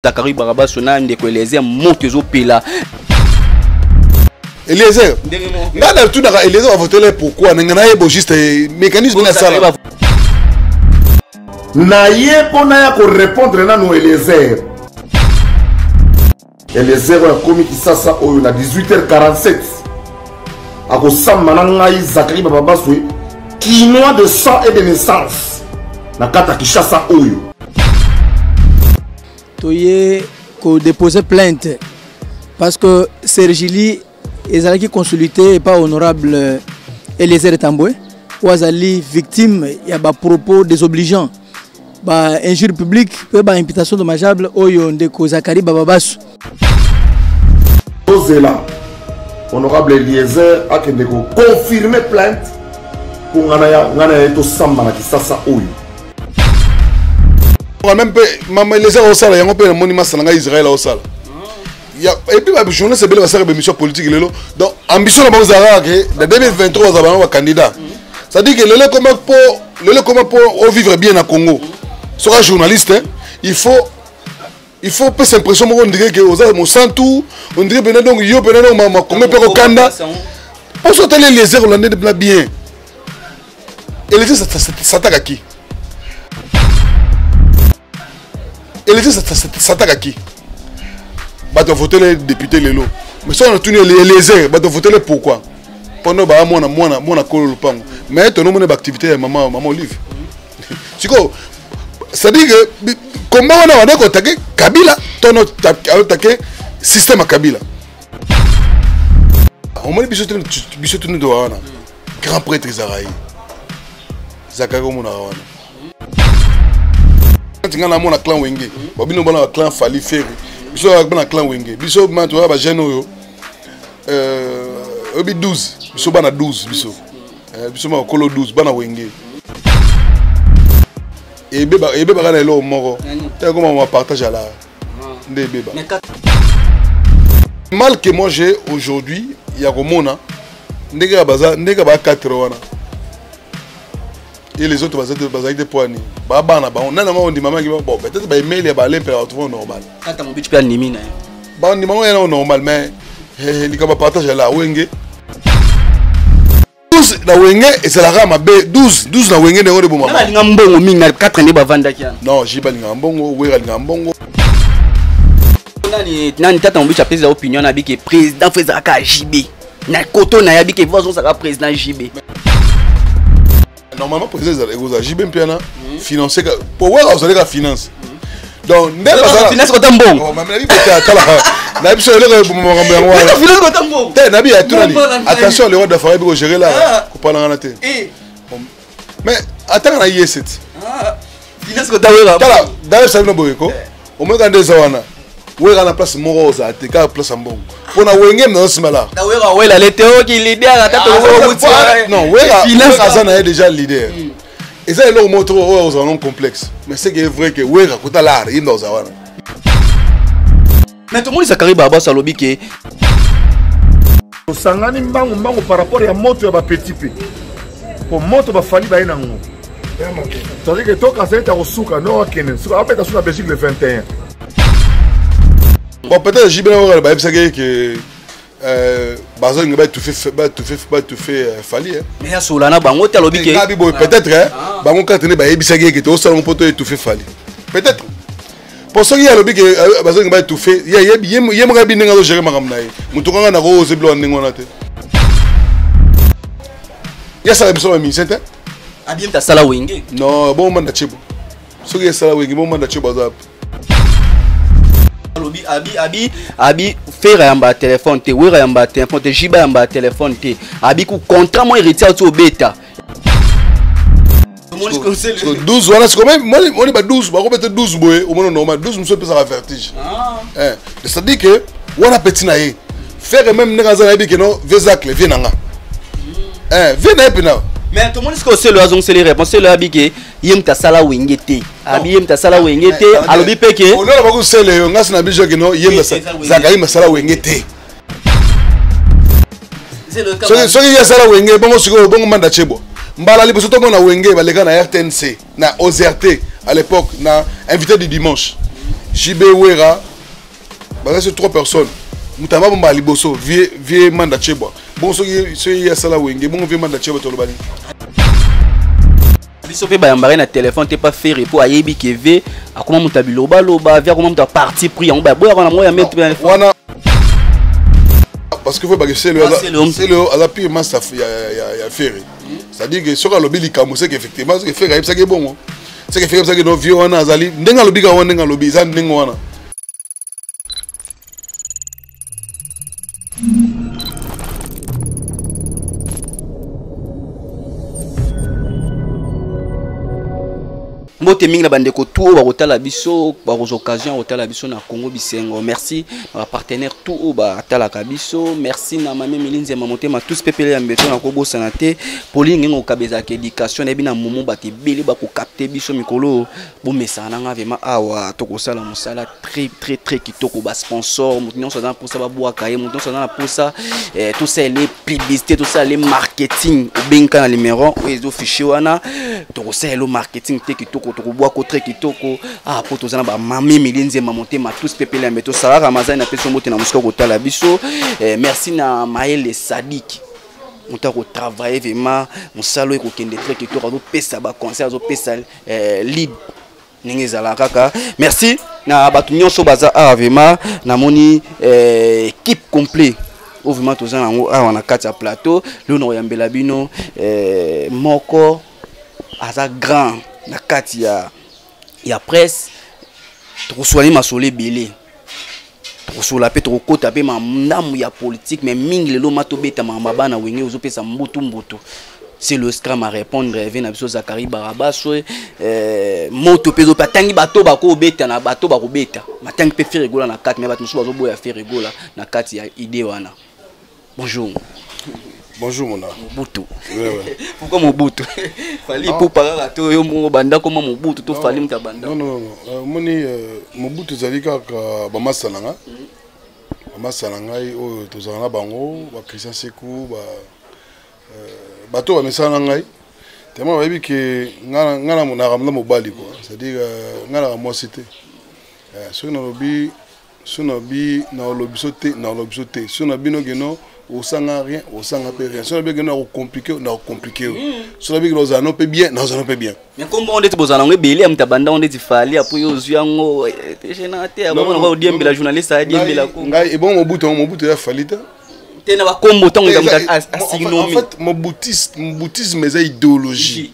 Zachary Barabaso na ndeko Eliezer moto ezopela Eliezer ngai natunaka Eliezer bavotele pourquoi ndenge nayeba juste eh, mécanisme na sala naye mpo naya korépondre nano Eliezer Eliezer oyo akomi kisasa oyo na 18h47 akosamba na ngai zakari bababaswe kinois de sang et de naissance na kati ya kinshasa oyo toye kodepose plainte parce que sergili ezalaki consulité epa honorable eliezer tambwe oyo azali victime ya bapropos désobligeant ba injure publique mpe ba imputation dommageable oyo ndeko zakari bababasu tozela honorable eliezer akende koconfirme plainte mpo ngana ya ngana ya ye tosamba na kisasa oyo meme mpe mama eliezer aosala yango mpe namoni masala ngai israel aosala et puis ba journaliste ebele basaka ba émission politique lelo donc ambition na bango ezalaka ke na 2023 bazala bango ba candidat c'est à dire que lelo ekoma mpo lelo ekoma mpo ovivre bien na congo soka journaliste hein, il faut il faut opesa impression moko ondire ke oza mosantu ondire mpena donc yo mpena donc makongo mpe kokanda mposo otali eliezer olande mpena bien elise sataka ki elise sataka ki bato avotele député lelo mais soki natuni eliezer bato avotele pourquoi mpona baa mwana mwana mwana kolo lopango mais tonomona baactivité ya mama mama olive sikoyo c'est-à-dire que komba wana wanda kotake kabila tono otake système ya kabila omoni biso tene biso tene towa wana grand prêtre ezalaka ye zakari omonaka wana ngai namona clan wenge babino bana ba clan fali feri biso yaka bana clan wenge biso ma toyaka bajeune oyo euh, oyebi 12 biso bana 12 biso euh, biso makolo 12 bana wenge ebebaka na eloko moko ekoma ma partage ala ah. nde ebeba mal que moi j'ai aujourd'hui ya komona nde kaka baza nde kaka ba 4 wana et les autres bazalaki bazalaki te mpo ya nini babana na bango nani yango ondimamaki bon peut-être baemail ya balepela bato mpo normal kata mobici mpe andimi na ye bandima yango yanao normal mais likambo ya partage ya la wenge 12 na wenge ezalaka mabe 12 12 na wenge nde yango ebomaalinga mbongo mingi na 4 nde bavandaki yana non ji balingaka mbongo wera alingaka mbongo nani tata mobici apesela opinion na bike président fo ezalaka jb na koto na yabi ke viva zone saka président JB normalement président ezala ekozala JB mpe wana hmm. financier ka po waka ozali ka finance hmm. donc nde bazala finance kota mbongo oh, mami nabi kota kala na biso eloko eboma makambo yango wana finance kota mbongo te nabi ya tunani attention le roi d'affaire bi ko gérer là ah. ko panangana te eh. mais atanga na yese ti ah, tala dayo sabino boyeko eh. omoyeka nde eza wana wera na place moko ozala te kaka place ya mbongo mpo na wenge mna osimala aza na ye déjà leader hmm. eza eloko moko toko oyo ozala non complexe mais seke vrai ke wera kota lar yinda oza wana Mais tomoni Zachary Barabas alobi ke tosangani mbangu mbangu par rapport ya moto ya bapetit mpe mpo moto bafali baye na ngo tozali ke tokasa ete akosuka no akende suka abeta su na belgique le 21 bon peut-être jibela oyo bayebisaki ye ke Euh, bazolinga batufe batufe batufe euh, fali mais asola na bango te alobi ke ngabi boye peut-être ah. bango kaka tene bayebisaki ye ke toosala ngo mpo to etufe fali peut-être mpo soki ye alobi ke euh, bazolinga ba étouffe ye moko yebi ndenge azogere makambo na ye motu kanga nako oze biloko ndenge wana te ye asala biso bamusicien te abiemta asala wenge non bongo manda cebo soki esala wenge bongo manda cebo aza wapi alobi abi abi abi fera yamba ya telefone te wera yamba ya telefone te jiba yamba ya telefone te abi ku contrat mo héritier oti obeta siko 12 wana siko moni ba 12 bakobete 12 boye omoni normal 12 mosusu epesaka vertige ah. eh, c'est-à-dire que wana peti na ye fere meme ndenge aza nayebi keno vezacle vie na nga hmm. eh, vie na ye mpena mais tomoni sikoyo selo azongiseli réponse selo abi ke ye moto asala wenge te abi ye moto asala wenge te alobi mpe ke olona bakusele yo ngasi na biso kino ye eh, eh, zakayima asala wenge te soki ye asala wenge bongo sikoyo bongo manda chebo mbala liboso tomona wenge baleka na rtnc na ozrt à l'époque na invité du dimanche jb wera baza sur trois personnes moto aba bombala liboso vie vie manda chebwa bongo soki soki ye asala wenge bongo vie manda chebwa tolobani biso mpe bayambaka na telefone te pa ferre mpo ayebi ke ve akoma moto ya bilobaloba ve akoma moto ya parti pris yango baboyaka na moi ya mete wana parce que faut bake selo selo aza pire master ya ya ya ferre c'est-à-dire que soki alobi likambo c'est que effectivement c'est que ferre ayebisaki bongo c'est que ferre ayebisaki no vieux wana azali ndenge alobi ka wana ndenge alobi eza ndenge wana mbote mingi na bandeko tout oyo bakotala biso bakozwa occasion ya kotala biso na congo bisengo merci na bapartenaire tout oyo batalaka biso merci na mami milinzi ya mamotema tous pepele ya mbeto nakobosana te polingi ngokaba ezalaka éducation nayebi na momo bato ebele bakokapte biso mikolo bomesana na ngai vraimen awa tokosala mosala très très très kitoko basponsor moto nyonso aza na mposa babwaka ye moto nyonso aza na mposa eh, tosalela ye publicité tosalela ye marketing obengika na numéro oyo ezo fichier wana tokosalela yo marketing te kitoko tokobwaka très kitoko ah mpo toza na bamami mili nzemba motema tous pepele yambe tosala ramazani na pesi mbote na mosika kotala biso eh, merci na maele sadiki moto akotravaille vraimen mosala oyo ekokende très kitoko azopesa baconseil azopesa eh, lib ndenge ezala kaka merci na bato nyonso baza awa vrema namoni eh, équipe complet oyo vrema toza nango awa na kati ya plateau leo nakoyambela bino eh, moko aza grand na kati ya ya presse tokosuani masolo ebele tokosola mpe tokokota mpe mandamu ya politique mais mingi lelo ma tobeta makambo ya bana wenge ozopesa mbutu mbutu c'est le scram à répondre eve na biso zakari barabaswe euh, moto mpe ezope atangi bato bakobeta na bato bakobeta matangi mpe feregola na kati me bato mosusu bazoboya feregola na kati ya idée wana Bonjour. Bonjour mon Mobutu. Ouais, ouais. Pourquoi Mobutu Fallait pour parler à toi, yo mon banda comment Mobutu, to fallait mta banda. Non non non, euh, moni euh, Mobutu zali kaka ba masala nga. Ba masala ngai oyo tozala na bango, ba Christian Sekou, ba euh, bato ba mesana ngai. Tellement bayebi que nga nga na mona ramla mobali quoi. C'est-à-dire euh, nga na mwasi te. Euh, soki nalobi so na bi na olobiso te na olobiso te so na bino keno osanga rien osanga pe rien so na bino keno akocomplike na ocomplike yo hmm. so na bino keno ozala no pe bien na ozala no pe bien mais kombo ngo ndeti bozala ngo ebele ya moto abanda ngo ndeti fali apo yo ozwi yango eh, tegena te abongo nako odiembela journaliste adiembela ko ngai ebongo mobutu yango mobutu ya fali te te na bakombo ntango eza mobutisme eza idéologie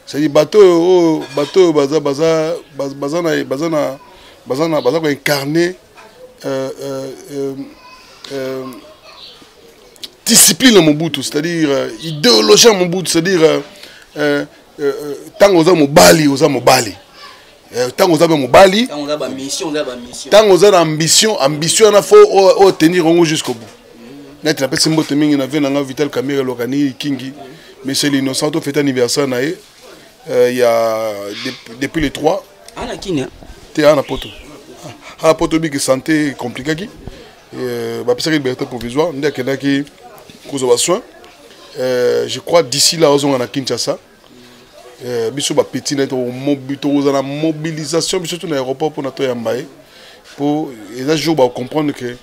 cest bato oyo oyo bato oyo baza baza baza na baza na baza na baza koincarne euh, euh, euh, euh, discipline ya mobutu c'est-à-dire euh, idéologie ya mobutu c'est-à-dire ntango euh, euh, euh, oza mobali oza mobali ntango eh, oza mpe mobali ntango oza na ambition ambition wana fo otenir yango jusqu'au bout neti napesi mbote mingi na vie na ngai vital camere lokani kingi monsieur l'innocent tofete anniversaire na ye euh, ya depuis le 3 ana ah, kini te ana ah, poto ana ah, poto biki santé compliquaki euh, bapesaki liberté provisoire nde akendaki kozwa basoin euh, je crois d'ici là ozonga na kinshasa eh, biso bapeti na tokoza na mobilisation biso to na aéroport mpona toyamba ye mpo eza jour bacomprendre que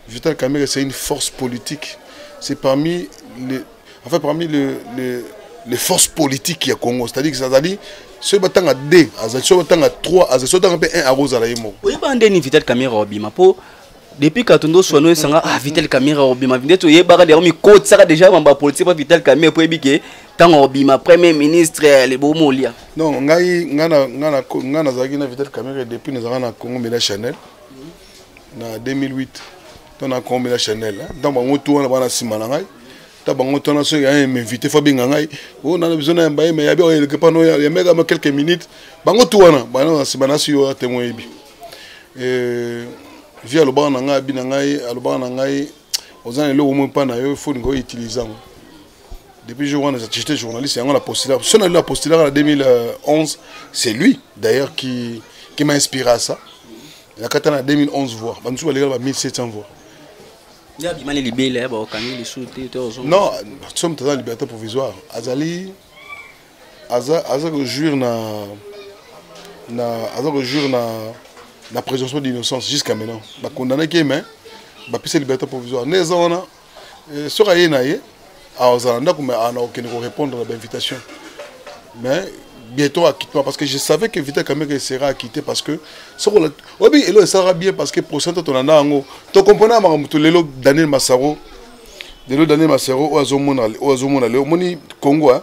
vital camere c'est une force politique c'est parmi les, enfin parmi le, le, les forces politiques ya congo c'est à dire que azali soki batanga 2 azali soki batanga 3 azali soki batanga mpe 1 akozala ye moko oyebaka nde ni vital camere obima mpo depuis katundo swano esanga ah vital kamera obima nde toyebaka yango mikotisaka déjà mamba politique mpa vital kamera mpo yebi ke ntango obima premier ministre eh, libomo olia non ngai ngai nazalaki na vital kamera depuis nazalaka na congo mela chanel na 2008 to na congo mela chanel ntango bango tu wana bana nsima na ngai ta bango tana soki aye m'invite fo abenga ngai o oh, nana biso na yamba ye me yabi oyeleke pano yambeka ma quelques minutes bango tu wana bana nsima nasi yo atemwe yebi euh, vie alobaka na ngai abi na ngai alobaka na ngai oza na eloko moko mpa na yo foni koyo utilise yango depuis jour wana j'étais journaliste yango na postula so na la postulaka na 2011 c'est lui d'ailleurs qui, qui m'a inspiré à ça nakata na 2011 voix bamosusu balekala ba 1700 voix abimani libele baokangi lisusu te non somme toza na liberté provisoire azali aza aza ko jouir na na aza ko jouir na na présomption d'innocence jusqu'à maintenant ba condamné ke mais ba pisa liberté provisoire ne eza wana euh, soka ye na ye azala ndako mais ana okende ko répondre na ba invitation mais bientôt acquittement parce que je savais que Vita Kamere sera acquitté parce que ce qu'on obi elo sera bien parce que procès to na nango to comprendre ma mutu lelo Daniel Massaro lelo Daniel Massaro oazo mona oazo mona lelo moni Congo hein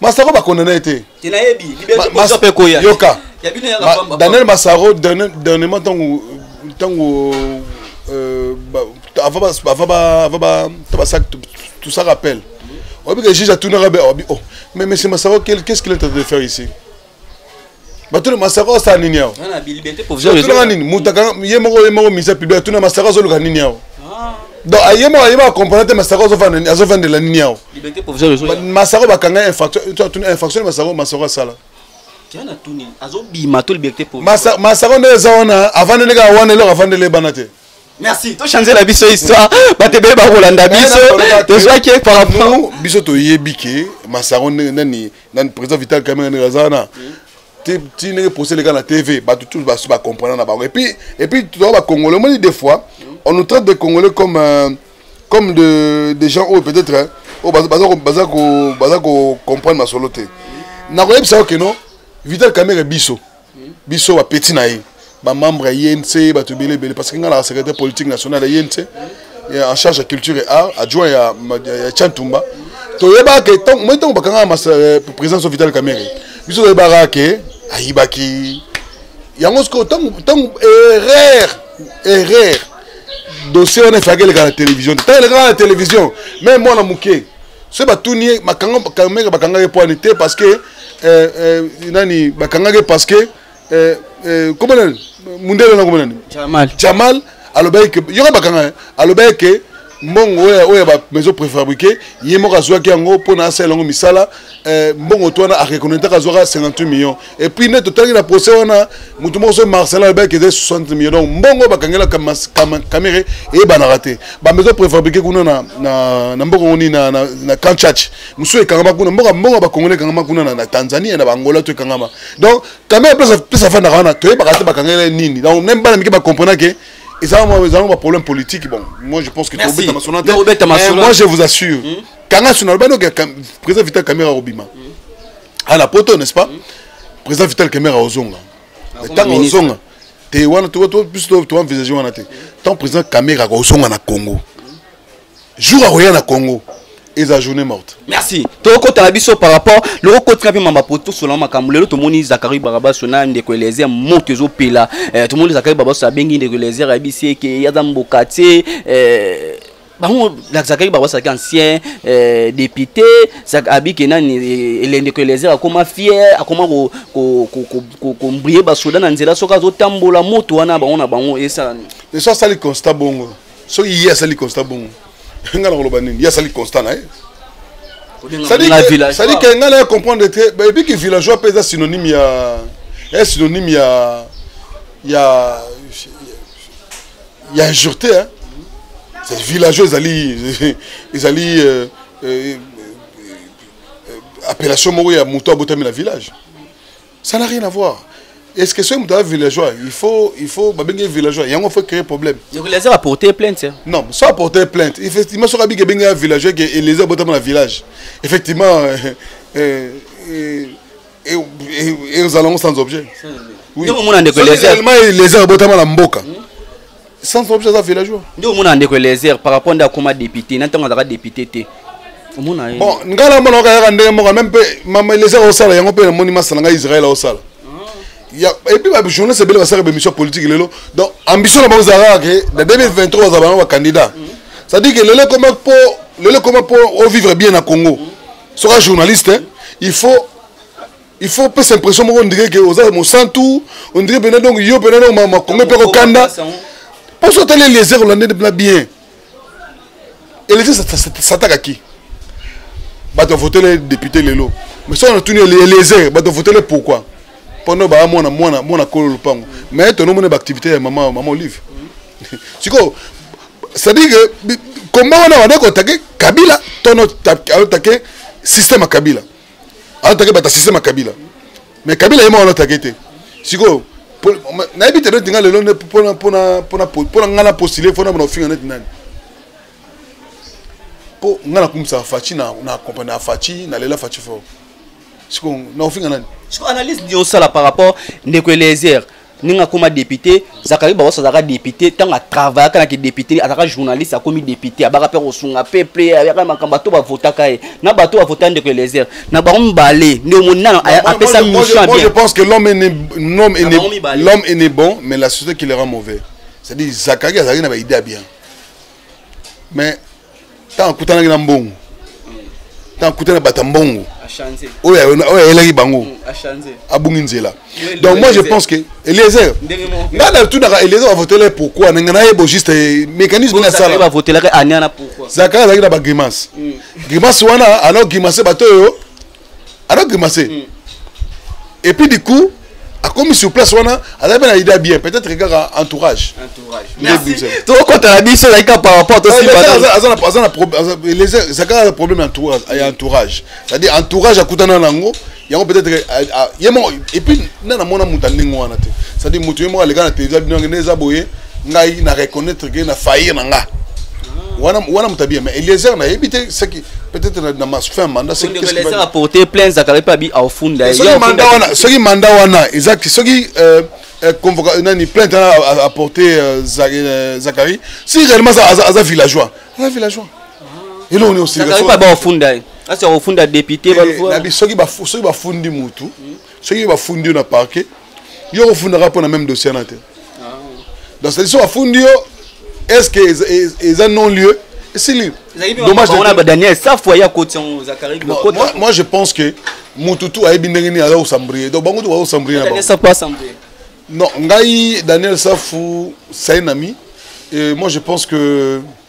masako bakondana ye te yoka daniel masaro dernièrement ntango ntango euh, tout ça rappelle oyebi ke juge atunaka be oyebi oh mais monsieur masaro qu'est ce qu'il est en train de faire ici batuna masaka osala nini awa tunaka nini mutaka ye moko ye moko misa public atuna masaka azoluka nini awa ah. donc ah, ye moko ayeba acomprendre te masaka azovandela nini awa masaka bakanga infraction infraction masaka masaka asala masaka nde eza wana avandeli kaka wana eloko avandeli ebana te merci tochanzela biso histoire bato ebele bakolanda eh, biso tozwaki par rapport biso toyebi ke masako nani nani président vital kamere ndenge aza wana ti ndenge procès eleka na tv bato tous basi bacomprendre na bango epuis epuis toza bacongolais omoni des fois on nous traite des congolais comme euh, comme de, des gens oyo peut-être oyo oh, baza, baza, baza, baza, baza kocomprendre masolo te nakoyebisa yo keno vital kamere biso biso ba petit na ye ba membre ya INC bato ebele ebele parce que nga na secrétaire politique national ya INC en charge ya culture et art adjoint ya ya Chantumba toyebaka ntango moi ntango bakanga masa euh, présidence ya Vital Kamerhe biso toyebaka ke ayibaki yango sikoyo ntango ntango erreur erreur dossier wana efaki eleka na télévision te ntango elekaka na télévision meme mwana moke soki batuni ye makanga bakanga ye poani te parce que eh, eh, nani bakangaki parce que eh, eh, comment nani mundele na comment nani jamal jamal alobaki que yoka bakanga eh, alobaki que mbongo oyo oyo ba maison préfabriqué ye moko azwaki yango mpo na asala yango misala eh, mbongo to wana areconnaitaka azwaka 58 millions et puis nde totalaki na procès wana moto moko so marcelin alobaki eza 60 millions donc mbongo bakangelaka kamere eyebanaka te ba maison préfabriqué kuna na, na, na mbongo ngoni na, na, na kanchach mosusu ekangama kuna mboka mboka bakongole ekangama kuna na tanzanie na bangola to ekangama donc kamere place afandaka wana toyebaka te bakangela nini donc meme bana mike bakomprena ke ezala mwa problème politique bon moi je pense que tobeta masona te eh, moi je vous assure hmm? kanga suna alobani oke président vital kamera akobima hmm. ana ah, poto n'est ce pas hmm. président vital kamera ozonga ntango ozonga te wana biso toenvisage wana te tant président kamera akozonga na congo jour akoya na congo eza journée morte merci tokokota na biso par rapport loko kotika mpe mamba po tosola makambo lelo tomoni zakari barabaso na ndeko elezer moto ezopela eh, tomoni zakari barabaso abengi ndeko elezer ayebisi eke aza mboka te eh, bango zakari barabaso azalaki ancien eh, député abike nani eh, ndeko elezer akoma fier akoma kombrie basoda na nzela soki azotambola moto wana bango na bango esalani eso asali constat bongo soki ye asali constat bongo nga nakoloba nini ye asali constat na ye sadi ke nga naye comprendre te bayebi ke villageois mpe eza synonyme ya eza synonyme ya ya ya injurete hein? villageois ezali ezali euh, euh, euh, appellation moko ya moto abotami na village ça n'a rien à voir est ce que soki moto aza villageois il faut il faut babenge villageois yango faut créer problème eliezer aporte plainte non so aporte plainte effectivement soki abiki ebenge ya villageois ke eliezer abotama na village effectivement ezalango sans objet oui. oui. eliezer abotama na mboka hmm? sans objet aza villageois nde omona ndeko eliezer par rapport nde akoma député na ntango azalaka député te omona ye bon ngai na mona okayaka ndenge moko meme mpe mama eliezer osala yango mpe namoni masala ngai israel osala epuis bajournaliste ebele basalaka bémission politique lelo donc ambition na bango ezalaka ke na 2023 bazala bango bacandidat c'est-à-dire ke lelo ekoma mpo lelo ekoma mpo ovivre bien na congo soka journaliste il faut il faut opesa impression moko ondire ke oza mosantu ondire mpena donc yo mpena donc makongo mpe kokanda mposo otali eliezer olande mpena bien eliezer satakaki bato avotele député lelo mais soki natuni eliezer bato avotele pourquoi mpono baa mwana mwana mwana kolo lopango mais tonomona baactivité ya mama mama olive sikoyo c'est-à-dire que komba wana wanda kotake kabila tono atake système ya kabila alatake bata système ya kabila mais kabila ye moko alatake te sikoyo nayebi te neti nga lelo nde mpona ngai na postule fo na bona ofinga neti nani mpo ngai nakumisaka faci na accompagne ya faci nalela faci fort sikoyo na ofinga nani siko analyse nini osala par rapport ndeko eliezer ndenge akoma député zakari baos azalaka député ntango atravayaka na kidéputé azalaka journaliste akomi député abaka mpe kosunga peuple ayaka makambo bato bavotaka ye na bato bavota ndeko elezer na bango mibale nde omoni nano apesa mission bien je pense que l'homme est né bon mais la société qui le rend mauvais c'est-à-dire zakari azalaki na baide ya bien mais ntango akutanaki na mbongo ntango akutana bato ya mbongo oyo ayelaki bango mm, abungi nzela donc moi je pense que eliezer ngai natunaka eliezer bavotelaki pourquoi nanga nayebo juste eh, mécanisme nini asalazaka azalaki na bagrimace mm. grimace wana alors grimace bato oyo alors grimace mm. et puis du coup akomi sur place wana azali mpe na ida bien peut-être kaka entourage tokotala biso ezali kaka par rapport eza kaka problème ya entourage c'est-à-dire entourage akutana na yango yango peut-être ye moko et puis nde namona moto ya ndenge wana te c'est-à-dire moto ye moko aleka na televisa bino yango nde eza boye ngai na reconnaître que na faillir na nga wana wana mutabia mais Eliezer na yebi te saki peut-être na ma fin mandat c'est que Eliezer a porté plein za kala pa bi au fond là soki mandat wana soki mandat wana exact soki euh, euh convocation nani plainte a a porté euh, euh, Zachary si réellement ça aza villageois aza villageois ah. et là on est au Sénégal Zachary pas ba au fond là asi akofunda depute eh, soki bafundi mutu soki bafundi yo na parquet yo okofundaka mpo na meme dossier na te ah. donc cetadi soki afundi yo est ce que eza non lieu esili dommagedaniel safu aya koti yango moi je pense que motu tu ayebi ndenge nini aza kosambrie donc bango tu bakosambrie na bango non ngai daniel safu sainami et moi je pense que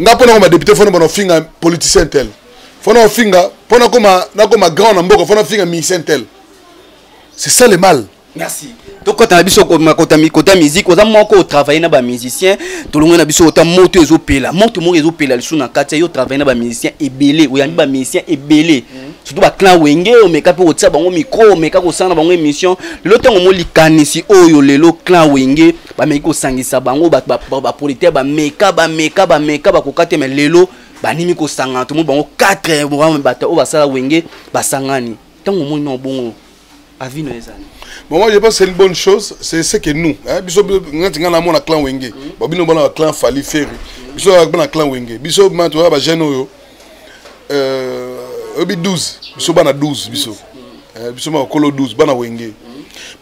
nga mpo nakoma député fo nabana ofinga politicien tel fo na ofinga mpo nakoma nakoma grand na mboka fo nafinga musicien tel c'est ça le mal merci tokota na biso kota musique oza moko otravaille na bamusicien tolongo na biso ota moto ezopela moto moko ezopela lisusu na kati ya yo otravaille na bamusicien ebele oyambi bamusicien ebele mhm. surtout baclan wenge omeka mpe kotia bango micro omeka kosala na bango émission lelo ntango mo likanisi oyo lelo clan wenge bameki kosangisa bango bapolitike bameka bameka bameka bakoka te me lelo banimi kosangana tomoni bango 4 bato oyo basala wenge basangani ntango omoni na obongo avis no ezali bon moi je pense c'est une bonne chose c'est ce que nous hein biso ngati ngana mona clan wenge mm. ba bino bana clan fali ferre mm. biso bana clan wenge biso ma to ba jeune oyo euh, oyebi 12 biso bana 12 biso euh, biso makolo 12 bana wenge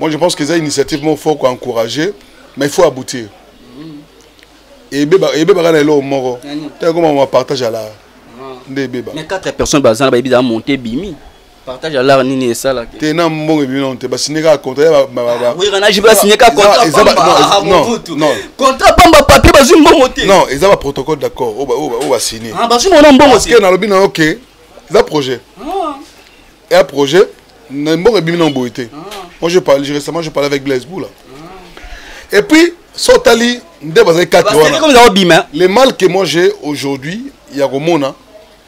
moi je pense que eza initiative moko fort koencourage mais il faut aboutir ebebaka na eloko moko ntango ekoma mapartage alaa nde ebeba mais 4 personnes baza na bayebi eza monte ebimi partage ya lar nini esalaki te na mbongo ebimi nano te basigne kaka contratwiranaji basigne kaka contrat pamba papier bazwi mbongo te non eza baprotocole d'accord oyo basigne ah, bazwi mbongo na mbongo te nalobi na yo ke eza projet ah. ya projet na mbongo ebimi nano boye te ah. moi je parle récemment je parle avec blaise boula et puis so otali nde bazali kati wana le mal que moi j'ai aujourd'hui ya komona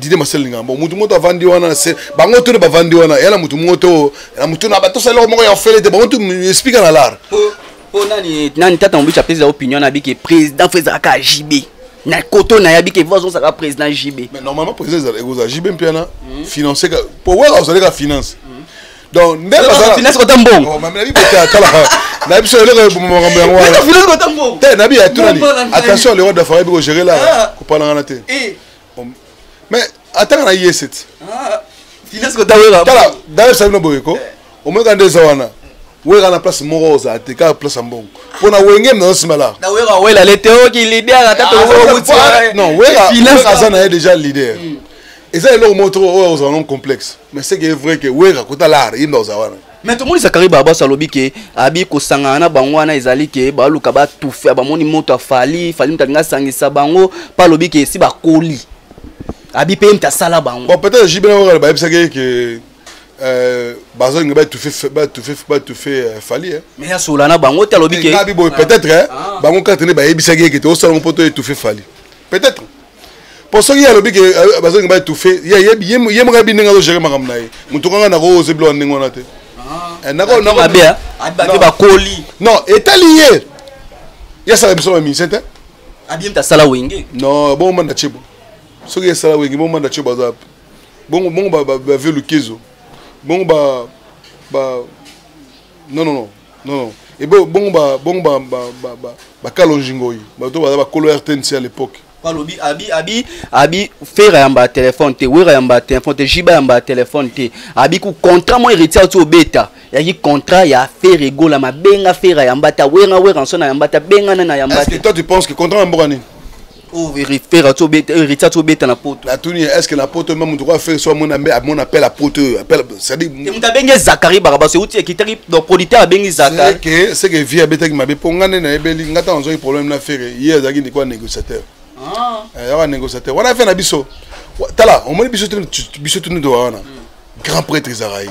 dide masele linga bon mutu moto avandi wana se bango tone bavandi wana ya na mutu moto na mutu na bato sala eloko moko ya ofele te bango tu explika na lar mpo nani nani tata mobici apesa opinion na bike président fo ezalaka ya jb na koto na yabi ke voix ozalaka président jb mais normalement président ekozala jb mpe wana hmm. financé mpo waka ozalaka finance hmm. donc nde bazala finance kota mbongo oh, mami nabi bota kala na biso eloko eboma makambo yango wana finance kota mbongo te nabi ya tunani attention le roi d'affaire ebi ko gérer là ah. ko pala ngana te eh. mais atanga na yeseti ah. finance kota wera kala d'ailleurs sabino boyeko eh. omeka nde eza wana wera na place moko ozala te kaka place ya mbongo mpo na wenge mna osima la non wera aza na ye déjà leader hmm. eza eloko moko toko oyo ozala non complexe mais ce que est vrai que wera kota lar yinda oza wana mais tomonisa kari barbaso alobi ke abi kosangana na bango wana ezali ke baluka batufe bamoni moto afali fali moto alingi asangisa bango mpe alobi ke esi bakoli abi mpe ye moto asala bango bon peut-être jibe na kokala bayebisaki ye ke euh, bazolinga batufe batufe batufe euh, fali eh. mais asola na bango te alobi ke ngabi boye peut-être eh, ah. bango karte nde bayebisaki ye ke te osalango mpo to etufe fali peut-être mpo soki ye alobi ke euh, bazongi ba étouffe ye moko ayebi ndenge azogere makambo na ye motu kanga nakoose biloko ndenge wana te ah. eh, ah, bakoli non etali ye ye asala biso bamise te abimta asala wenge non bongo manda cebo soki esala wenge bongo manda cebo aza bongo bongo bave lukezo bongo ba ba non non non Non, non. Et bon, bon, bah, bon, bah, bah, bah, bah, bah, Kalonjingoyi. Bah, toi, bah, bah, Kolo RTNC à l'époque. balobi abi abi abi fera yamba ya telefone te wera yamba ya telefone te jiba yamba ya telefone te abi ku contrat mo héritier oti obeta yaki contrat ya fere egola mabenga fera yamba ta wera wera nso na yamba ta benga na na yamba Est-ce que te toi tu penses que contrat na mboka nini Oh, pera tobeta heritier tobeta na poto natuni est ce que na poto meme moto oyo fere so amona mbe amona appel ya poto oyo appel cestadire moto abengi zakari barabas euti ekitaki donc producteur abengi zakarike ce que vie abetaki mabe mpo ngai nde nayebeli ngai ntango azwaki problème na fere ye azalaki ndeko ya négociateur ah. eh, yaka négociateur wana fe na biso tala omoni biso biso tuni towa wana hmm. grand prêtre ezalaka ye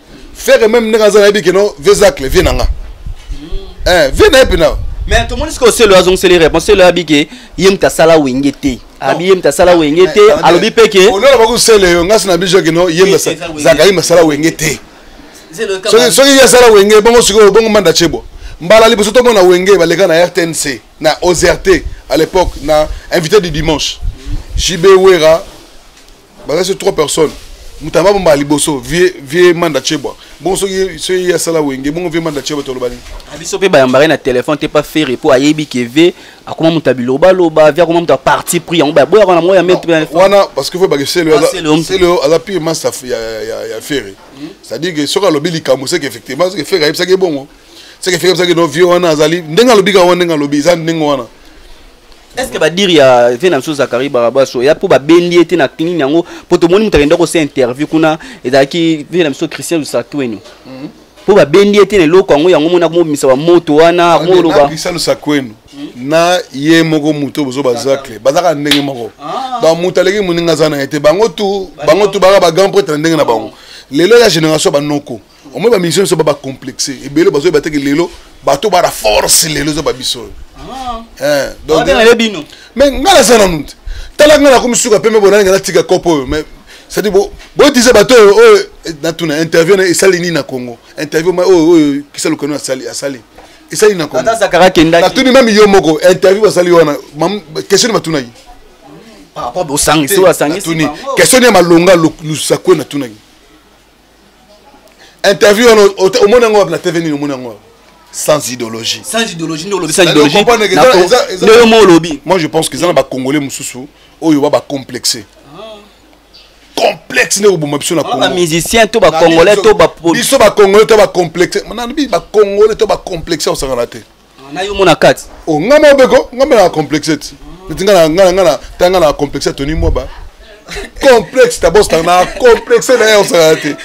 ferre meme ndenge aza nayebi keno vezacle vie na nga eh, vie na ye mpena mais tomoni sikoyo selo azongiseli réponse selo ayabi ke ye moto asala wenge te abi ye moto asala wenge te alobi mpe ke olona bakusele yo ngasi na biso keno ye zakali masala wenge te soki ye asala wenge bongo sikoyo bongo manda chebwa mbala liboso tomona wenge baleka na rtnc na ozrt à l'époque na invité du dimanche jb wera baza so trois personnes moto aba bomba liboso vie vie manda chebwa bongo soki soki ye asala wenge bongo vie manda chebwa toloba nini ah, biso mpe bayambaka na telefone te pa ferre mpo ayebi ke vie akoma moto ya bilobaloba vie akoma moto ya parti pris yango bayaboyaka na moya mete wana parce que fo bake seleo ah, aza pire master ya ferre hmm? c'est à dire que soki alobi likambo seke effectivement soki ferre ayebisaki bongo seke ferre ayebisaki no vie wana azali ndenge alobi ka wana ndenge alobi eza ndenge wana est ce que badire ya vie na biso zakari barabas oya mpo babendi ye te na nini yango mpo tomoni moto akenda kosa interview kuna ezalaki vie na biso christian lusatuenu mhm. mpo babendi ye te na eloko yango yango mona komobimisa bamoto wana moloba christian lusatuenu na ye moko moto bozo bazacle bazaka ndenge moko ah. donc moto aleki moninga aza na ye te bango tu bango tu baka ba grand prêtre na ndenge na bango lelo ya génération banoko omoi ba musicien biso ba ba complexe ebele bazoye bateke lelo bato bara force lelo eza babiso oyo ah. eh, donc mais ngai naza nanu te tala ngai nakomi suka pembe bonani ngai natika kopo oyo mais cest boyetiza bato oyo oyo natuna interview na esali nini na congo interview oyo oyo kisa lukano asali asali esali na congonatuni meme yo moko interview basali wana question batunaki question ya malonga lusakue natunaki interview wana omoni yango wapi na tv nini omoni yango sans idéologie sans idéologie nde olobi sans idéologie nde yo mo olobi moi je pense que eza na bacongolais mosusu oyo ba bacomplexe ah. complexe nde koboma biso na ah, congomusicien to bacongolais to biso bacongolais to bacomplexe nalobi bacongolais to bacomplexe osangana te na yo mona kati o oh, nga mobeko nga mela complexe ti neti nga na nga na nga na ta nga na complexe toni moba complexe ta boss na complexe na yo sala te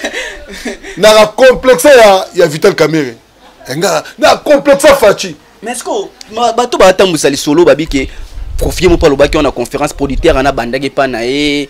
na complexe ya ya Vital Kamerhe eh, nga na complexe Fachi mais ce que bato batambwisa lisolo babike profie moko alobaki wana conférence producteur ana abandaki epa na ye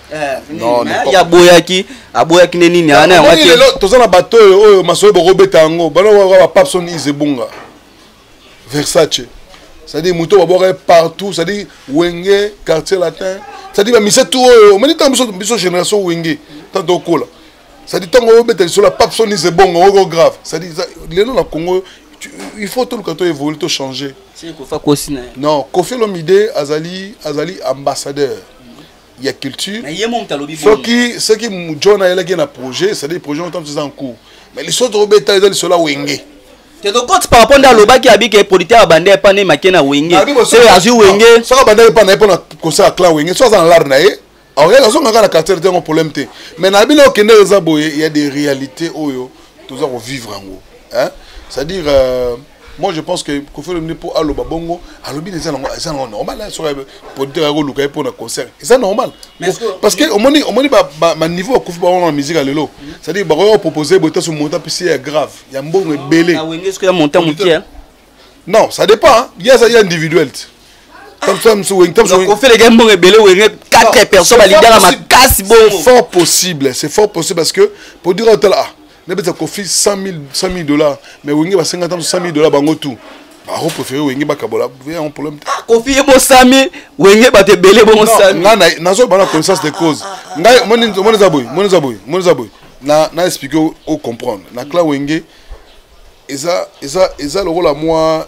Eh, aboyaki aboyaki nde nini ana yango te lelo toza na bato oyo oyo masolo bokobeta yango banaa bapapson isebunga versace c'est-à-dire moto babwaka partout c'est-à-dire wenge quartier latin c'est-à-dire bamise tout oyo omoni ntango biso biso génération wenge ntango tokola c'est-à-dire ntango obeta lisolo ya papson isebonga oko grave c'est-à-dire lelo na congo il faut toluka to évolue to changer non kofi olomide azali azali ambassadeur ya culture soki soki john ayelaki na projet cetadire projet otantu eza en cours mais lisolo tokobeta eza lisolo ya wenge tokokoti par rapport nde alobaki abike producteur abanda epa nde make na wenge soki azwi wenge soki abanda epa na ye mpo na concert ya clan wenge soki aza na lare na ye aoyaka azonga kaka na quartier te yango problème te mais na bino okende eza boye ya des réalités oyo toza kovivre yango c'est à dire euh, moi je pense que kofi olomide mpo aloba bongo alobi na eza nango eza nango normal hein, soki producteur akoluka ye mpo na concert eza normal parce que omoni omoni baniveau ya kofi bango na musique ya lelo c'est-à-dire bakoki kopropose boye taso montant mpisi ya grave ya mbongo ebele ah, non ça dépend hein. ye aza ye individuel te kofeleka mbongo ebele wenge 4 personnes balingaka makasi bongo fort possible c'est fort possible parce que pour dire otala ah nabeta kofi 100000 dollars mais wenge basenga ntango 100000 dollars bango tout bako préféré wenge bakabola yango problème ah, kofi ebosami wenge bato ebele bongosami nazo bana connaissance de cause ah, ah, ngai omoni eza boye moni eza boye moni eza boye na na expliquer o comprendre na clan wenge eza eza eza lokola mwa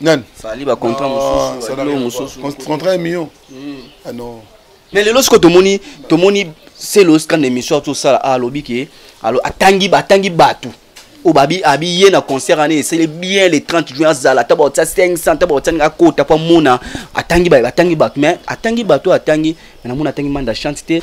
nani fali ba contrat mosusu ba mosusu contrat million hmm. ah non mais lelo siko tomoni tomoni selo scan émission azo sala ah, alobi ke alo atangi ba tangi batu oyo babi abiye na concert wana esali bien le 30 juin azala ata baotia 500 ata baotia ninga akota mpo amona atangi baye batangi bato mais atangi bato oyo atangi mais namona atangi manda chante te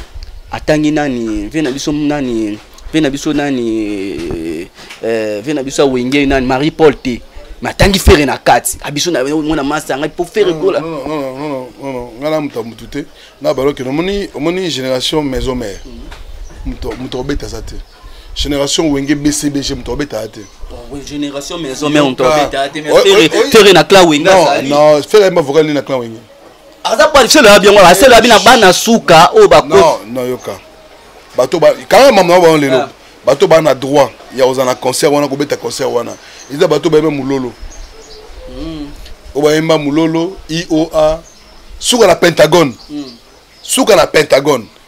atangi nani vie na biso nani vie na biso nani euh, euh, vie na biso awenge nani marie paul te mais atangi fere na kati abiso ah, mwana masa ngai mpo fere kola ngai na moto ya motu te na baloke omoni omoni génération maison mare moto obeta aza te génération wenge bcbg moto obetaka te génération maison mare moto obetaka te fere na clan wenge non fere ayemba vocal nini na clan wenge aza qualifie loya byango ase loya bina bana suka oyo bakonoyoka bato kanga mama na bango lelo ah. bato baa na droit ya kozala na concert wana kobeta concert wana eza bato bayeba mololo hmm. oyo bayemba mololo ioa suka na pentagone hmm. suka na pentagone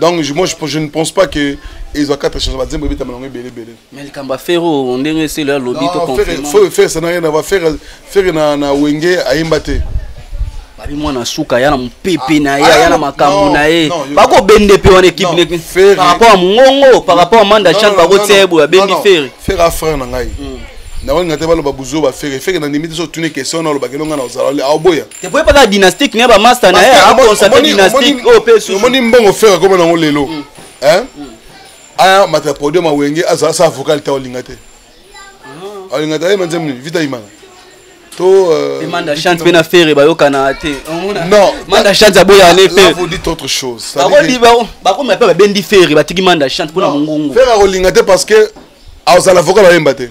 donc je, moi, je, je ne pense pas que ezwa quatre chanson bazembo ebetama nango ebele ebele mais likambo ya fere oyo ndenge eselo ya lobi tofere sana ye na bafere fere na wenge ayemba te babi mwana suka aya na mopepe na ye aya na makambo na ye bakobende mpe wana ekipe neke par rapport ya mongongo par rapport ya manda chane bakotia ye boye abendi fere fere a frère na ngai nakolinga te baloba buzoba fere fere na ndimi te so otuni question na olobaki elonga na ozala aoboya te po epaka dynastique na ba master na ye akonstate dynastique oyo mpe susu omoni mbongo fere akoma nango lelo mm. mm. aya mata podium awenge azala sa avocat lita olinga te ah. olinga te ayema nzembo nini vita imana to euh, manda chante mpe na fere bayokana te non manda chante aboya ne fere dit autre chose bakoma mpe babendi fere batiki manda chante mpo na mongongo fere akolinga te parce que azala avocat bayemba te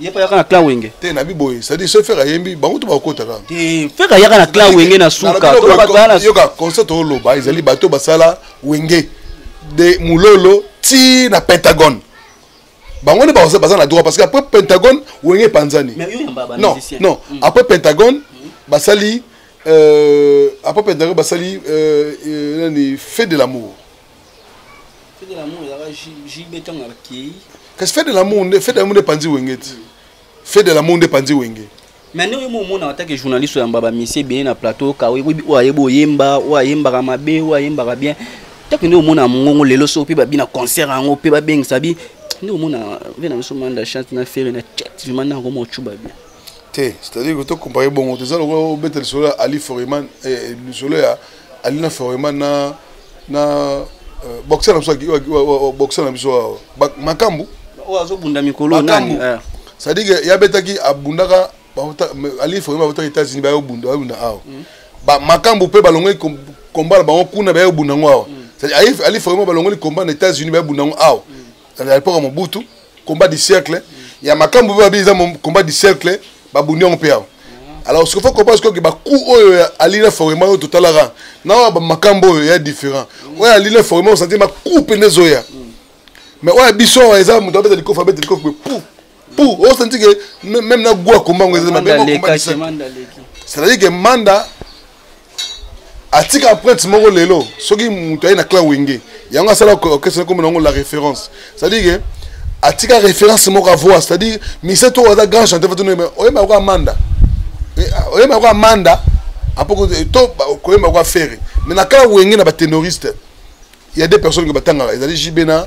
ye pa yaka na clan wenge te na biboye c'est à dire ce faire ayembi bango to bakota kaka te faire yaka na clan wenge na suka to ba ba na yoka concert o loba ezali bato basala wenge de mulolo ti na pentagone bango nde baza baza na droit parce que après pentagone wenge epanzani non non mm. après pentagone mm. basali euh, après pentagone basali euh, euh, nani fait de l'amour kasi fete de lamour nde fete de lamour nde epanzi wenge ti fete de lamour nde epanzi wenge mais ndenge oyo omonaka atake journaliste oyamba bamisie ebele na plateau ka oyebi oyo ayebi oyemba oyo ayembaka mabe oyo ayembaka bien take nde omona mongongo lelo soko mpe babina concert yango mpe babengisa bi nde omona ve na biso manda chante na fere na chat vima nde yango mocuba bien te c'est-à-dire que tokompare bongo toza lokola obeta lisolo ya ali foreman eh, lisolo ya eh, ali na forema na na euh, boxer na biso boxer na biso makambu oyo azobunda mikolo nani eh. c'est-à-dire que yabetaki abundaka ali forema abotaki états-unis bayobunda bayobunda awa mm. makambu mpe balongoli komba na bango kuna bayobunda yango awa mm. ali forema balongoli komba na états-unis bayobunda yango awa mm. à l'époque ya mobutu combat du cercle ya makambo mpe babi eza combat du cercle babundi yango mpe awa alors soki okoba soki bacout oyo ya alina forema oyo totalaka na oyo bamakambo oyo ya différent oyo alina forema osanti bacout mpe nde ezoya mais oyo ya biso awa eza moto abeta likofi abeta likofi mpe pou pour oh, osanti ke même na goa komba ngo ezali mabeecestadire ke manda atika empreinte moko lelo soki moto aye na cla wenge yango asala orchestre nakomi na yango la référence cestadire ke atika référence moko avoa cestadire mise to aza grand chanteur fatino oyemba yango amanda eh, ah, oyemba yango amanda apoko eh, to koyemba yango afere mais na cla wenge na batenoriste il y a des personnes que batangaka ezali jb na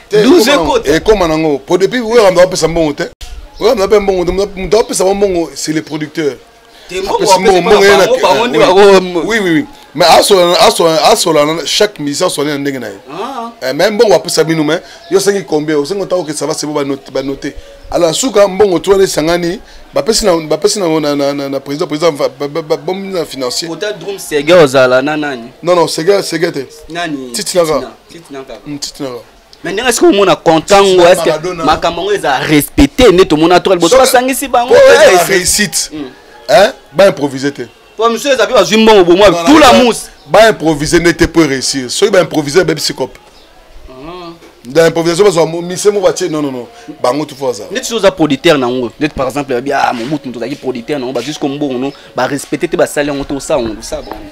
ekoma nango po depuis weramba bapesa mbongo te weramba ape mbongo te moto apesa ba mbongo c'est le producteur mais asolana chaque musicien asolani na ndenge na ye ah. eh, mais mbongo apesa bino mais yo osengi combien osengi otako ke sava sebo banote alors na suka mbongo to wana esangani bapesi na président président bomi na financier non non sege te titinaka mais ndenge esika omona content ngo eske makambo yango eza respecte nde tomona toka liboso basangisi bango réussite baimprovise te po misu eza mpe bazwi mbongo bomwa tout la mousse baimprovise nde te mpo réussir soki baimprovise ebebi sikope dans improvisation bazwa mise moko batie non non bango tufu bazala ndeti soki oza producteur na yango ndeti par exemple babi ah mobutu moto ozalaki producteur na yango bazwi siko mbongo no barespecte te basali yango te osala yango osala bango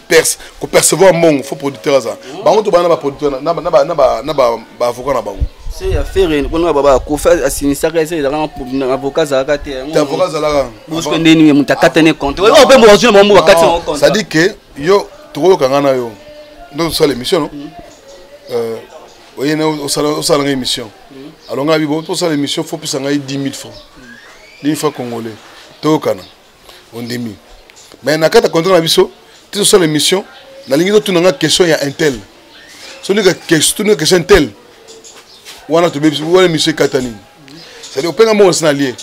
perce ko percevoir mbongo faut producteur aza hmm. bango to bana ba producteur na ba na ba na ba ba avocat na bango se ya fere ko na baba ko fa asinisaka ese ezaka na avocat zalaka te yango avocat zalaka bosko nde ni muta katane compte o oh, pe mo zwe mo mo katane ah, compte ça dit que yo toko kanga na yo ndo so l'émission non hmm. euh oye na o sala o sala émission hmm. alonga bibo to sala émission faut pesa ngai 10000 francs 10000 francs congolais to kana ondimi mais na kati ya contrat na biso ti tosala émission nalingi totuna nga question ya intel soki tuna question intel wana tobebisi wana émission ekata nini cestadi openga moko nasi na lie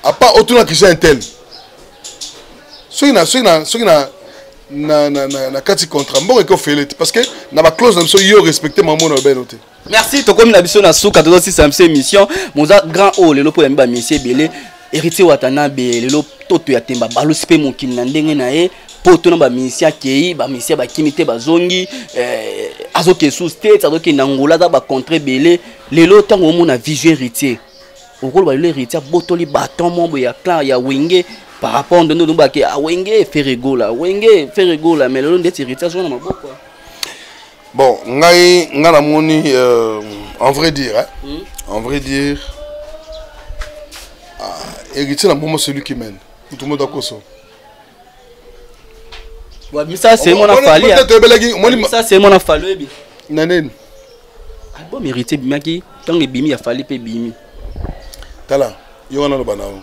apart otuna question ya intel soki na soki na soki na na, na, na, na kati contrat mbongo eke ofele te parce que na baclause na biso yo respecte mamona obeno te merci tokomi na biso na suka tozosisa biso émission moza grand oyo lelo mpo yambi bamisi ebele héritier watanabe lelo toto ya temba balusi mpe mokili na ndenge na ye poto na bamisi akei bamisi bakimi te bazongi eh, azokende sous state azokende angola aza bacontre ebele lelo ntango omona vision héritier okoloba lelo héritier abotoli baton mombo ya clan ya wenge par rapport ndondo nobake awenge ah, feregola wenge feregola mais lelo ndeti héritier azonga na maboko bon ngai ngai namoni euh, en vrai dire hein? mm. en vrai dire ah, héritier na momo celui qui mène moto moto akoso wabisa se mona fali wabisa se mona fali oyebi na nini album héritier ebimaki ntango ebimi ya fali mpe ebimi tala yo wana loba na yo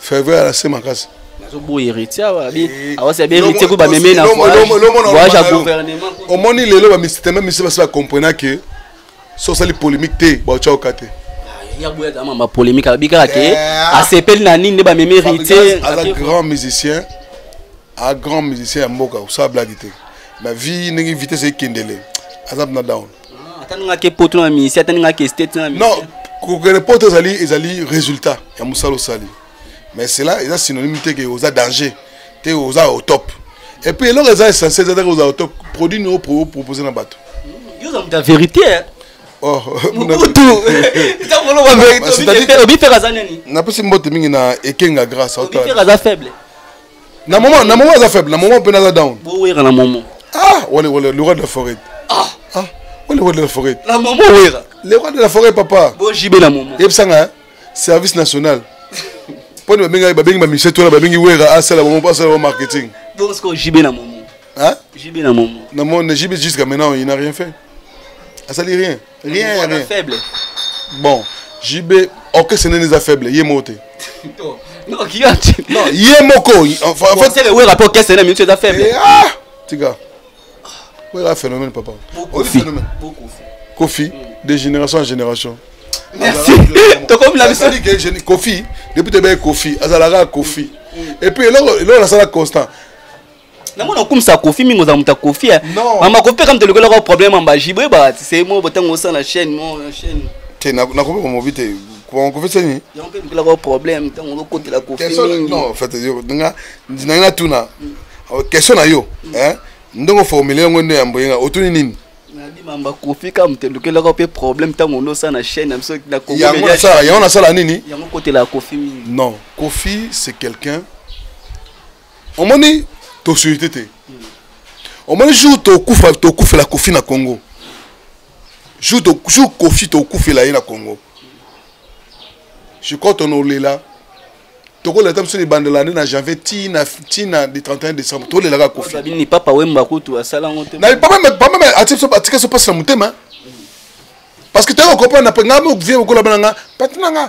ferveur ya nase makasi nazoboya héritier awa abi eh, awasi abi héritier ko bameme na voyage ya gouvernement omoni lelo bamisiteme misu basi bacomprena ke so osali polémique te baotya oka te ah, yaboya aza mama polémique alobi kaka ke eh, ah. asepeli na nini nde bameme héritier aza grand musicien a grand musicien ya mboka osala blage te mais vie ndenge vitesse ekendele aza mpena down Ah, atani nga ke poto na ministère atani nga ke state na non kokende poto ezali ezali résultat ya mosala osali mais cela eza synonyme te ke oza danger te oza au top et puis eloko eza essentiel eza te oza au top produit nio propose na bato yo oza moto ya vérité hein? Oh, napesi mbote mingi na ekenga grâce faible na moment na moment aza faible na moment mpena aza down bowera na moment ah wale wale le roi de la forêt ah ah wale roi de la forêt na moment wera le roi de la forêt papa bo jibe na moment yebisanga hein? service national mpo nde babengi babengi bamisie tona babengi wera asala bango asala bango marketing donc sikoyo jibe na moment hein jibe na moment na moment jibe jusqu'à maintenant il n'a rien fait asali rien rien ya rien faible bon JB orchestre nene eza faible ye moko te non qui a dit non ye moko en fait c'est le wera rapport orchestre nene minute eza faible eh, ah tika wera phénomène papa kofi kofi de génération en génération merci tokomi na biso kofi depuis tebe kofi azalaka kofi et puis eloko eloko nasala constant na mona okumisa kofi mingi ozala moto ya kofi eh. mama kofi mpe kama tolokelaka problème amba jibre ebati se mo botango osala chaîne mo chaîne te nakomi komobi te kofi seni yango mpe lokelaka problème ntango olokotela kofi mingi non fait nga nangi natuna mm. oh, question na yo mm. eh, ndenge oformule yango nde ya mboyenga otuni nini mamba kofi ka moto elukelaka mpe problème ntango ondo osala na chaîne na biso na yango nasala nini yango kotela kofi mingi non kofi c'est quelqu'un omoni tosolite te omoni jour tokufa tokufela kofi na congo jour kofi tokufela ye na congo je crois tonolela tokoleta biso libandela nde na janvier tina tina de 31 décembre tolelaka kofibini papa wemba kutu asala yango te atika so mpasi na motema parce que toyaka comprendre ngai vie okolaba na ngai pati na ngai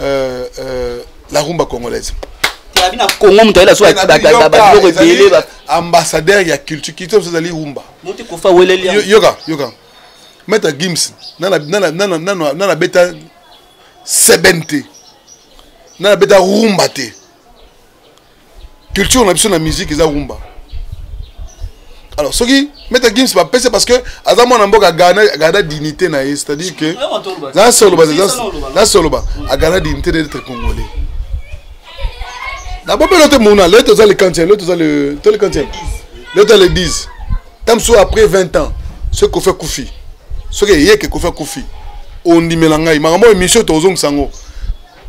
euh, euh, la rumba congolaise telabi na congo moto ayela sobiloko ebele ambassadeur ya culture culture mosusu ezali rumba motikofa weleli yoka yoka maître gims nana beta seben te nana beta rumba te culture na biso na musique eza rumba alors soki meta gims bapesa parce que aza mwana mboka agada dignité na ye c'est à dire que nasoloba nasoloba agada dignité na etre congolais na bobelo te mona leo toza le quantième leo toza le to le quantième leo toza le 10 ta mosusu après 20 ans soki kofi akufi soki eyeke kofi akufi ondimela ngai makambo oyo émission tozongisa yango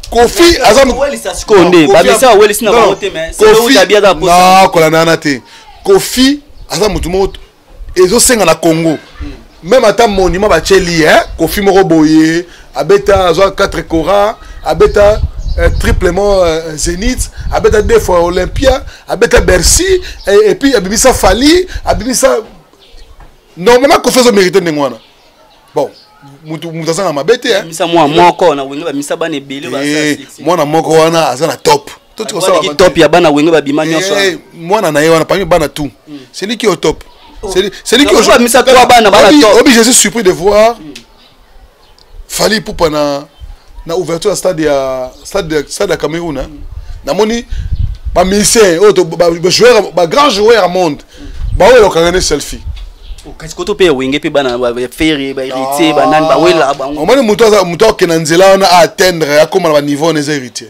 kofi aza sikoyo nde babisa awelisi na bango te menakola na yana te kofi aza motu moko ezosenga na congo meme ata monument batieli eh? kofi moko boye abeta azwa 4 cora abeta euh, triplement euh, Zenith, abeta deux fois Olympia, abeta Bercy, et, et puis abimisa Fali, abimisa normalement Kofi azo mérité ndenge wana. bon mutu mutu azanga mabe te hein. misa mwa moko na wenge bamisa bana ebele eh, mwana moko wana aza na top top ya bana wenge babima nyonso eh, mwana na ye wana parmi bana tout hmm. c'est lui qui au top oh. c'est lui qui au bamisa trois bana bana top obi je suis surpris de voir hmm. Fally Ipupa na na ouverture ya stade ya stade stade ya Cameroun hein. Hmm. namoni ba musiciens oyo ba joueur ba grand joueur ya monde bawela okanga ne selfie oh, kasi koto mpe ya wenge mpe bana bafere baheritier banani bawela bango omoni moto akokenda nzela wana aatteindre akóma na baniveau wana eza héritier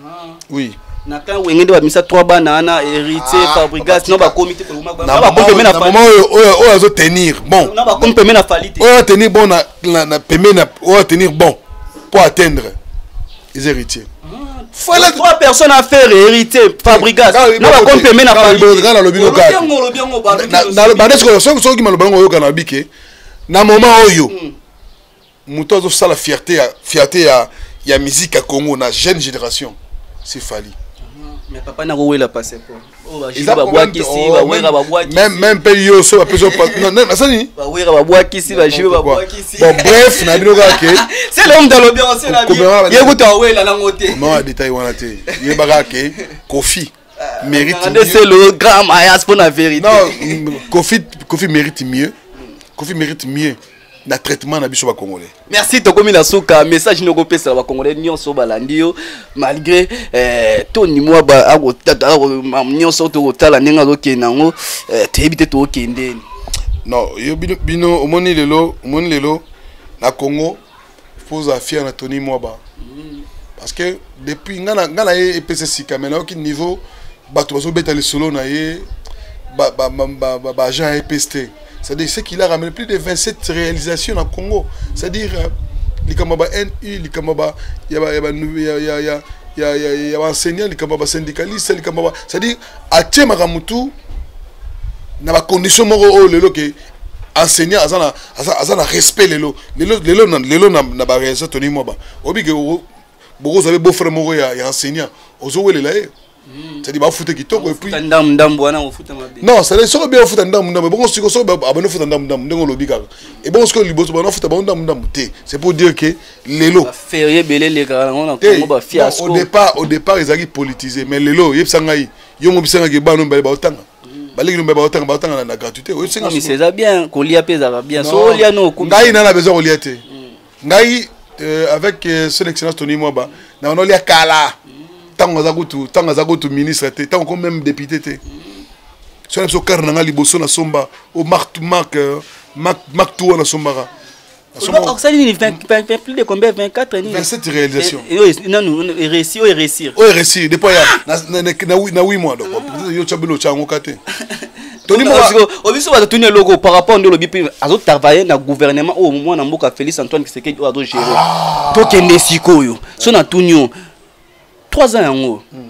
ah. oui na kan wenge nde bamisa trois bana wana héritier ah, fabrigas no bakomi te oyo azo tenir bon bakomi peme na fali te oyo atenir bon na peme na oyo atenir bon mpo atteindre eza héritier fala trois personnes à faire héritier fabrigas na ba compte mais na fabrigas na lobi no kaka na ba ndeko soki soki maloba ngo yoka na bike na moment oyo hmm. moto azo sala fierté ya fierté ya ya musique ya Congo na jeune génération c'est Fally ah, mais papa na ko wela passeport eza meme mpe yo so bapesi nasani bref na bino kaka keyekotaoyelanangotemama detail wana te yeba kaka ke kofi ah, mérite mieux. c'est le grand mayas pour la vérité. Non, Kofi, Kofi mérite mieux. Kofi mérite mieux. na traitement na biso bakongolais merci tokomi na suka message nini okopesela bakongolais nyonso balandi yo malgré eh, toni mwa nyonso tokotala ndenge azokende yango eh, toyebi te tokokendeni non yo bino, bino omoni lelo omoni lelo na congo faut ozala fier na tony mwaba mm. parce que depuis nga na ye epesa sika mai nayoki niveau bato bazobeta lisolo na ye baagent ya epes te c'est-à-dire ce qu'il a ramené plus de 27 réalisations na congo c'est-à-dire euh, likambo ya ba nu likambo ya baenseignant likambo ya basyndicaliste likambo c'est-à-dire atie makambo tu na bacondition moko oyo lelo ke enseignant aza na aza, aza na respect lelo lelo lelo na lelo na, na ba réalisation toni mwaba obi ke bokoza be beau frère moko ya, ya enseignant ozo welela ye hmm. c'est-à-dire bafuta kitoko et puis ndam ndam wana ofuta mabe non c'est-à-dire soki bien ofuta ndam ndam bongo siko soki abano futa ndam ndam ndenge olobi kaka et bongo siko liboso bana futa bango ndam ndam te c'est pour dire que lelo ferié belé le kaka ngo na kongo ba fiasco au départ au départ ezaki politisé mais lelo yebisa ngai yo mo bisanga ke bana mbale ba otanga baleki nombe baotanga baotanga na gratuité oyebisengamisa eza bien kolia mpe ezalaka bien so olia no ngai nana besoin kolia te mm. ngai euh, avec euh, son excellence tony mwaba na bana olia kala ntango aza kutu ntango aza kutu ministre te ntango ko même député te so na biso kare na ngai liboso nasomba o mark mark euh, mark tour nasombaka osali nini plus de combien 24 nini 27 réalisation nanu réussi oyo réussir oyo réussir depuis ya na 8 mois donc peut-être yo tya bilo tya yango ka te obiso bato tuni eloko par rapport nde olobi mpe azotravaille na gouvernement oyo mwana mboka félix antoine kisekedi oyo azogere tokende sikoyo so na tuni yo 3 ans yango hmm.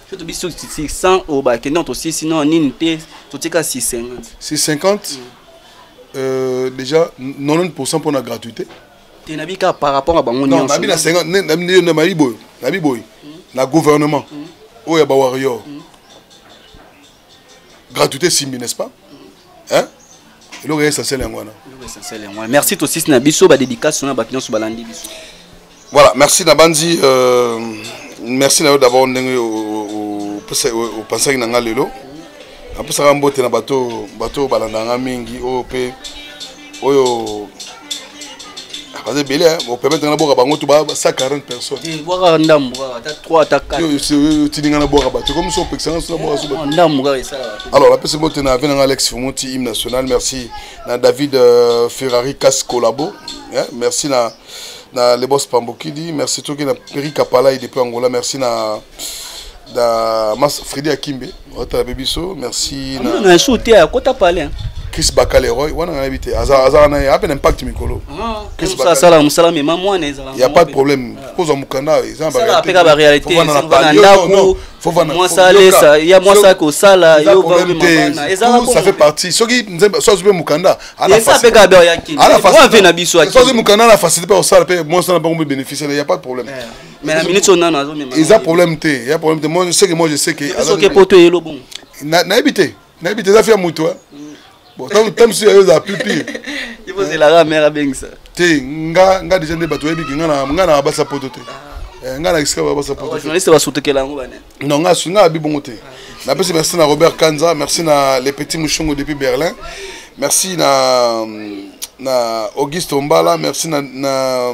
so tobi so 600 oyo bakende na tosisi no nini te totika 650 650 mm. euh, déjà 90 pourcent mpo na gratuité te nabi kaka par rapport ya bango nyonso nabi na 50 nabi boye nabi boye na gouvernement mm. oyo ya bawarrior mm. gratuité esimbi n'est-ce pas hein? eloko ya essentiel yango wana merci tosisi na biso badédication na bato nyonso balandi biso voilà merci nabanzi euh, merci na yo d'abord ndenge opensaki na ngai lelo napesaka mbote na bato bato balandaka ngai mingi oyo mpe oyo baza ebele bopermettre nga bwaka bango to ba 140 personnesbwaka ndambo kaka ata 3 ata 4 otindi nga na bwaka bato ekomi so opekisa nga sona bwaka soba ndambo kaka esala alors napesi mbote na ave na nga alex fumuti hymne national merci na david euh, ferrari cas collabo merci na na lebos pambokidi merci toki na peri kapalai depuis angola merci na da mas fredi akimbe otala mpe biso merci ah, na su te akota pale chris bakaleroy wana nayebi te azalaka na ye ape na impact mikolo ah, asala mosala mema mwana ezala ya pas de problème kozwa mokanda eza na baapeka baréalité na ndako mwasalesa ya mwasa kosala ça fait partie soki nzembe so azwi mpe mokanda ana facilité mpe kosala mpe mwasa na bango mpe bénéficier ya pas de problème eh. mais na minute oyo nano azomema eza problème te ya problème te moi je sais que moi je sais que soki poto eyelo bongo nayebi te nayebi te eza fia moto bon ntango mosusu yayo eza plus pire ivozelaka mare abengisa te nga nga déjà nde bato oyebi ke nga na basa poto te ah. eh, nga na esika babasa poto journaliste basutukela yango bane non nga nga abi bongo te napesi merci na robert kanza merci na le petit mushungu depuis berlin merci na na auguste ombala merci na, na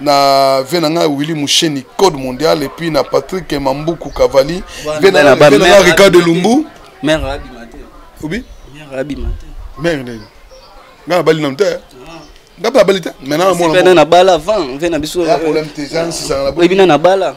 na vie na ngai willi musheni code mondial epuis na patrick mambuku kavali vie na ngai ricardo lumbu mère abima te obi mère abima te mère nini ngai nabali nanu te eh? ah. ngai mpe abali te maintenant na mwana na bala avant vie na biso oyebi na na bala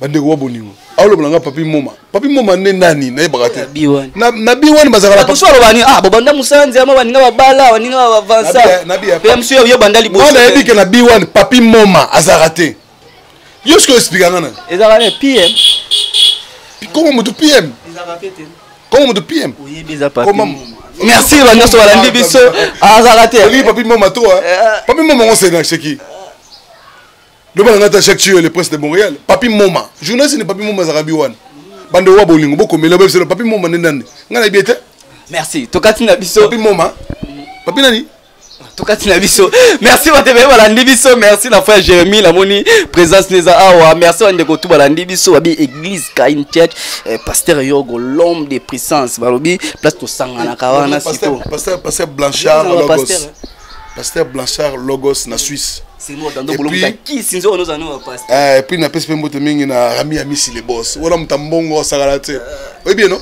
bandeko wa bolingo aoloba nanga papi moma papi moma nde nani nayebaka te na bi wani bazalakaoso aloba ni ah bobanda mosanzi ama baninga babala baninga bavansape mosu yo banda liboso nayebi ke na bi wani papi moma azalaka te yo soki oexplika nga nani ezalaka ne pm koma motu pm koma motu pm oyebi eza papi merci ba nyonso balandi biso azalaka te papi moma to papi moma ngo senasheki loba na ngai ata jacques ciyo le prince de montréal papi moma journaliste ne papi moma azalaka bi wana bande owa bolingo bokomela boyebiselo papi moma nde nani ngai nayebi ete merci tokati na biso papi moma papi nani tokati na biso merci batebele balandi biso merci na frère jérémie namoni présence neza awa merci bandeko tu balandi biso babi église kain church eh, pasteur yogo l'homme de puissance balobi place tosanganaka wana siko pasteur blanchard logos pasteur blanchard logos na suisse epuis napesi mpe mbote mingi na rami ya misi le bos wana moto ya mbongo asakala te oyebi eno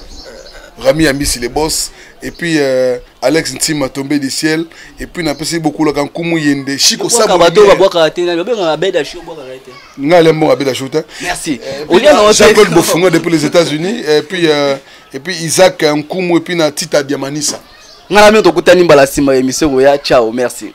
rami ya misi le bos epuis euh, alex ntima tombe du ciel epuis napesi bokulaka nkumu yende chiko nga ale mbongo abeda sho te jean-claude bofunga depuis les états-unis epuis euh, epuis isaac nkumu epuis na tita diamanisa ngai na bino tokutani mbala nsima ya emission koya ciao merci